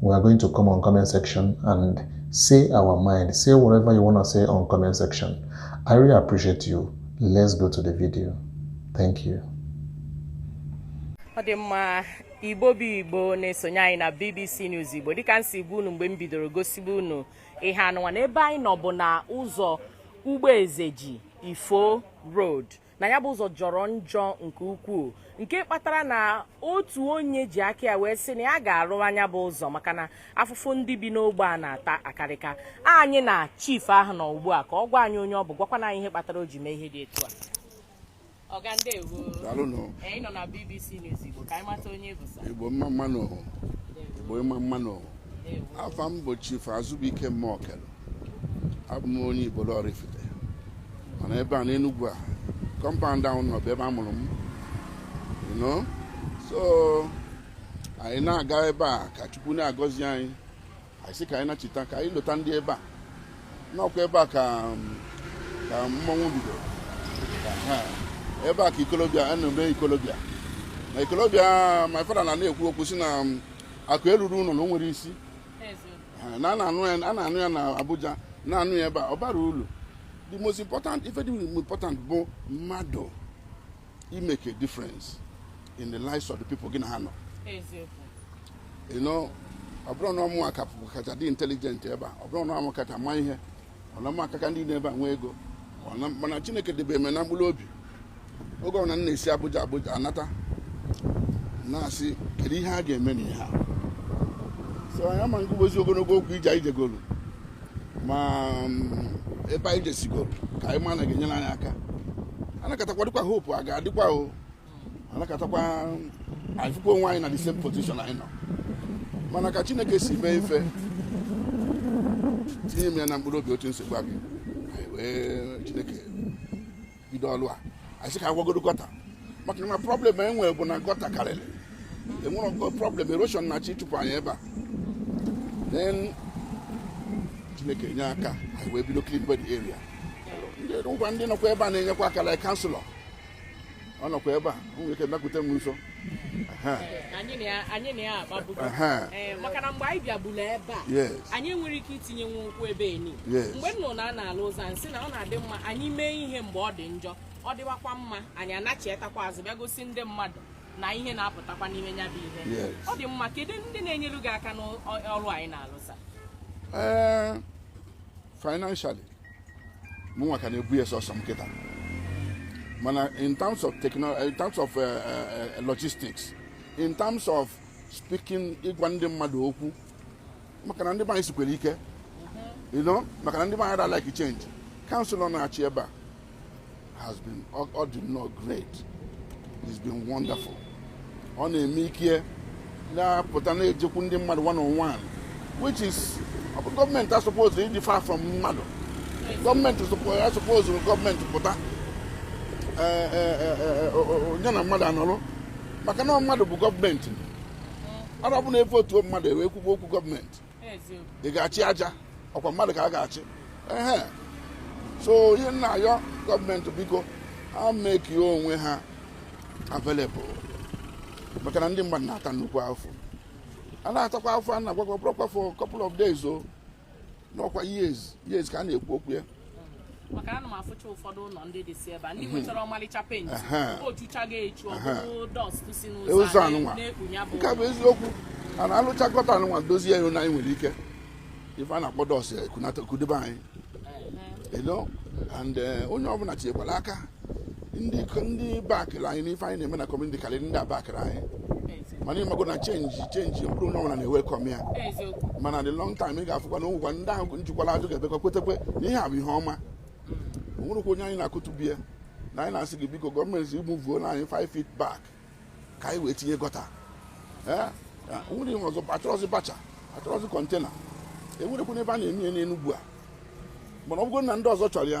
we are going to come on comment section and say our mind. Say whatever you want to say on comment section. I really appreciate you. Let's go to the video. Thank you. ọ dị mma igbo bụ igbo na-esonye anyị na bbc news igbo dịka m si gwa unu mgbe m bidoro gosibe unu ihe anụnwa na ebe anyị nọ bụ na ụzọ ugboezeji ifo road na nya bụ ụzọ jọrọ njọ nke ukwuu nke kpatara na otu onye ji aka ya wee sị na ya ga-arụ nya bụ ụzọ maka na afụfụ ndị bi n'ogbe a na-ata akarịka anyị na chief ahụ nọ ugbu a ka ọ gwa anyị onye ọ bụ gwakwanụ anyị ihe kpatara o ji mee ihe dị etu a ọga ndeewo anyị nọ na BBC News Igbo ka anyị mata onye ị bụ sa Igbo mma mma nụ Igbo mma mma nụ afa m bụ chief Azụbụike Mokelu abụ m onye Ibolo Oraifite mana ebe a n'Enugwu a kọmpaụnd ahụ nọ bụ ebe a mụrụ m you know so anyị na-aga ebe a ka Chukwu na-agọzi anyị anyị sị ka anyị nachita ka anyị lota ndị ebe a na ọ kwa ebe a ka ka mmọnwụ bidoro ebe a ka ikolobịa a na-eme ikolobịa na ikolobịa my father na na-ekwu okwu si na akụ eluro ụnọ na o nwerọ isi Ha, na a na-anụ ya a na-anụ ya na abuja na-anụ ya ebe a ọ barọ ulu the most important ife dị important bụ mmadụ i-make a difference in the lives of the people gị na ha nọ you know ọ bụrọ na ọ mụnwa ka kacha dị intelligent ebe a ọ bụrọ na ọ mụ kacha ma ihe ọ na mụ aka ka ndị niine ebe a nwee ego Ọ na- mana chineke debee m na mkpụrụ obi oge ọbụla m na-esi abuja abuja anata na-asị kedu ihe a ga-eme na ihe a so anyị ama na-ekwuzi ogologo okwu ije anyị jegoro ma mm, ebe anyị jesigoro ka anyị ma na a ga-enyere anyị aka anọkatakwa dịkwa hope a ga-adịkwa o anọkatakwa anyị fụkwa onwe anyị na the same position anyị nọ mana ka chineke si mee ife tinye m ya na mkpụrụ obi otu m sibu gwa gị anyị wee chineke bido ọlụ a anyị sị ka a gwugodu gọta maka na problem e nwere bụ na gọta karịrị e nwere problem erosion na-achọ ịchụpụ anyị ebe a then chineke nye aka anyị wee bido clean-ba the area ngwa ndị nọkwa ebe a na-enyekwa aka like kanselọ ọ nọkwa ebe a o nwere ike bịakwute m nso Aha, anyị na ya anyị na ya akpabugo aha, Ee, maka na mgbe anyị bịabula ebe a yes anyị enwerọ ike itinyenwu ụkwụ ebe eni Yes. mgbe m nụrụ na a na-alụ ụzọ m sị na ọ na-adị mma anyị mee ihe mgbe ọ dị njọ ọ dịwakwa mma anyị anachetakwa azụ bịa gosi ndị mmadụ na ihe na-apụtakwa n'ime nya bụ ihe Yes. ọ dị mma kedu ndị na-enyere gị aka n'ọrụ anị ị na-alụ sa Ee, financially mụnwa ka na-ebu ya sọsọ m kịta mana in terms of technology in terms of uh, uh, logistics in terms of speaking ịgwa ndị mmadụ okwu maka na ndị be anyị sikwara ike you know maka na ndị be anyị ada like change councillor na-achị ebe a has been ọ dị nnọọ great it's been wonderful ọ na-eme ike na-apụta na-ejekwu ndị mmadụ one on one which is ọ bụ gọọmenti asuppose ịdị far from mmadụ gọọmenti suppose gọọmenti pụta eh, eh, eh, onye na mmadụ anọrụ maka na mmadụ bụ gọọmenti ọ bụrụ na e votuo mmadụ e wee kwuba okwu gọọmenti ị ga-achị aja ọkwa mmadụ ka a ga-achị ehe so ihe m na-ayọ gọọmenti biko ha mekie onwe ha available maka na ndị mmadụ na-ata nnukwu afụfụ a na-atakwa afụfụ a na-agwakwa ọ bụrọkwa for couple of days o na ọkwa years years ka a na-ekwu okwu ya maka ana m afụcha ụfọdụ ụlọ ndị dịsị ebe a ndị mhm. nwechara ọmalịcha penti o chuchago echu ọ bụrụ dọst si n'ụzọ e anụnwa nke bụ eziokwu a na-alụcha gọta anụnwa dozie ya na anyị nwere ike ife a na-akpọ dọst ekunata kudebe anyị elo and eh, onye ọbụla tinyekwara aka ndị ndị bakịrị anyị n'ife anyị na-eme na kọmuniti karịrị ndị abakịrọ anyị mana ịmago na chenji chenji ọ bụrọ onye ọbụla na-ewelkọm ya mana the long time ị ga-afụkwa na ọ bụkwa ndị ahụ jụkwara ajụ ga-emekwa kwetekwa na ihe a bụ ihe ọma mm. o nwerọkwa onye anyị na-akụtu be ya na anyị na-asị gị biko gọọmenti ị muvuo na anyị 5 feet back ka anyị wee tinye gọta eh? nwere ihe ọzọ achọrọzi bacha achọrọzi kọntena e nwerọkwa ebe a na-eme ya n'Enugwu a mana ọ bụrụ na ndị ọzọ chọrọ ya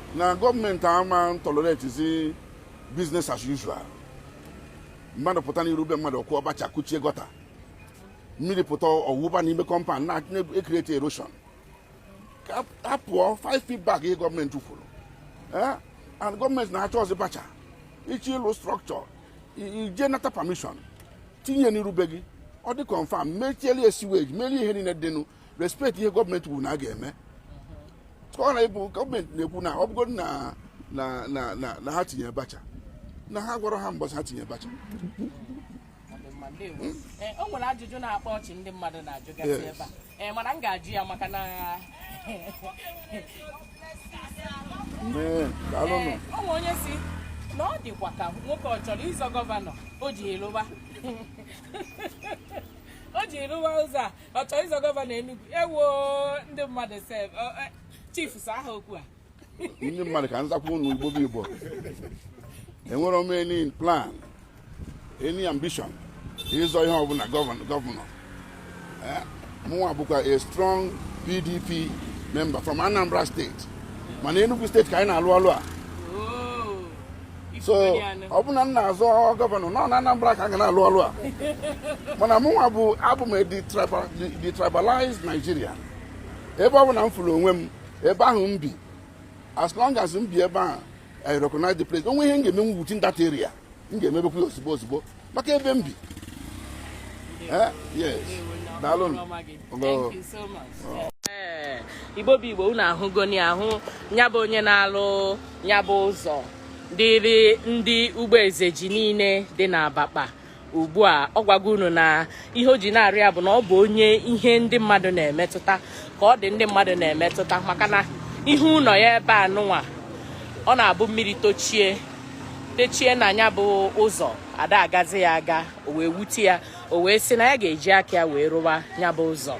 na gọọmenti ama toleretizi business as usual mmadụ pụta n'iru be mmadụ kụọ bacha kụchie gọta mmiri pụta ọ wụba n'ime kọmpand na-ekreti erosion ka a pụọ 5 feet back ihe gọọmenti kwuru Eh? and gọọmenti ana-achọzi bacha ị chọọ ịlụ strọkchọ ị jee nata pamishọn tinye n'iru be gị ọ dị kọnfam mechieli siweji merie ihe niile dịnụ respect ihe gọọmenti kwuru na a ga-eme ka ọ na-ebu gọọmenti na-ekwu na ọ bụgodị na na na na na ha tinye bacha na ha gwara ha mbọsị ha tinye bacha Ee, o nwere ajụjụ na-akpa ọchị ndị mmadụ na-ajụgasị Yes. ebe a Ee, mana m ga-ajụ ya maka na Ee, daalụ nụ. Ee, o nwere onye sị na ọ dịkwa ka nwoke ọ chọrọ ịzọ gọvanọ o ji arụwa o ji arụwa ụzọ a ọ chọrọ ịzọ gọvanọ Enugu ewo ndị mmadụ sef chief zaa ha okwu a ndị mmadụ ka m zakwa unu igbo bụ igbo enwere m any plan any ambition ịzọ ihe ọbụla gọvanọ mụnwa bụkwa a strong pdp member from anambra state mana enugu state ka anyị na-alụ ọlụ a so ọ bụ na m na-azọ gọvanọ nọ na Anambra ka a ga na-alụ ọlụ a mana mụnwa bụ abụ m a detribalized Nigerian ebe ọbụna m fụrụ onwe m ebe ahụ m bi as long as m bi ebe ahụ I recognize the place o nwee ihe m ga-eme within that area m ga-emebekwa ya ozugbo ozugbo maka ebe m bi eh, eh, igbo bụ igbo unu ahụgoni ahụ nyabụ onye na-alụ nyabụ ụzọ dịrị ndị Ugbo Ezeji niile dị n'Abakpa ugbu a ọ gwago unu na ihe o ji na-arụ ya bụ na ọ bụ onye ihe ndị mmadụ na-emetụta ka ọ dị ndị mmadụ na-emetụta maka na ihe ụlọ ya ebe a nụnwa ọ na-abụ mmiri tochie techie na nyabụ ụzọ ada agazi ya aga o wee wute ya o wee sị na ya ga-eji aka ya wee rụwa nyabụ ụzọ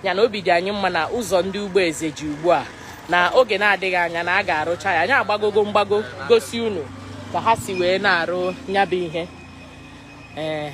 ya na obi dị anyị mma na ụzọ ndị Ugbo Ezeji ugbu a na oge na-adịghị anya na a ga-arụcha ya anyị agbagogo mgbago gosi unu ka ha si wee na-arụ nyabụ ihe ee eh.